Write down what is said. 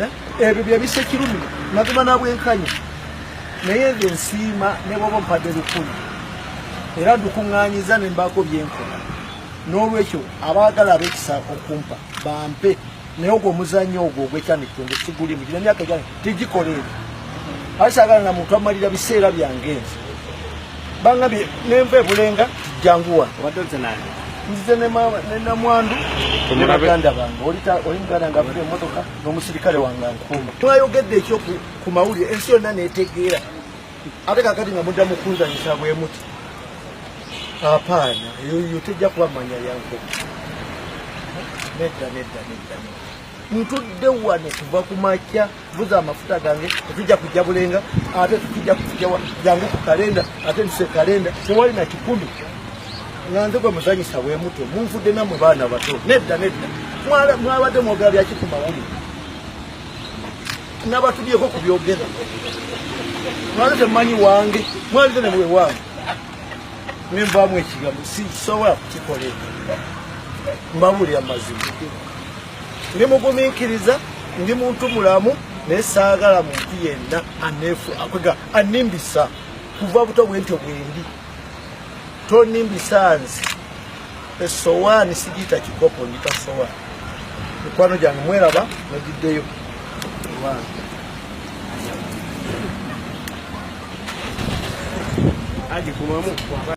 Eh, ebyo byebisa ekirumi naguma nabwenkanya naye nze nsiima nebwoba ompadde lukumi era ndukuŋŋanyiza ne mbaako byenkola n'olwekyo abaagala abekisa okumpa bampe naye ogwo omuzannyo ogwo ogwekyanikitenge sigulimu gina emyaka gyane tigikola ebyo asaagala na muntu amalira biseera byange nze bangabye nenva ebulenga janguwa nzize nenamwandu nebaganda bange oli muganda nga avuga emotoka nomusirikale wange ankuuma mwayogedde ekyo ku mawulire ensi yonna netegeera ate kakati nga mudda mukunzanyisa bwemuti apaana eyo tejja kuba manya yankuba nedda nedda nedda ntudde wano kuva ku makya buza amafuta gange tetujja kujja bulenga ate tetujja kujawa jangu ku kalenda ate ntuse kalenda tewali na kikumi nga nze gwe muzanyisa bwe muto munfudde namwe baana bato nedda nedda mwabadde mwogera byaki ku mawulire nabatubyeko ku byogera mwaze temumanyi wange mwalize ne bwe wange nembamu ekigambo sisobola kukikolera mbabulira mazima ndi mugumiikiriza ndi muntu mulamu naye saagala muntu yenna aneefu akwega annimbisa kuva buto bwentyo bwendi tonimbisa nze esowaani sigiyita kikopo ndita sowaani mikwano gyange mweraba nagiddeyo agikumamu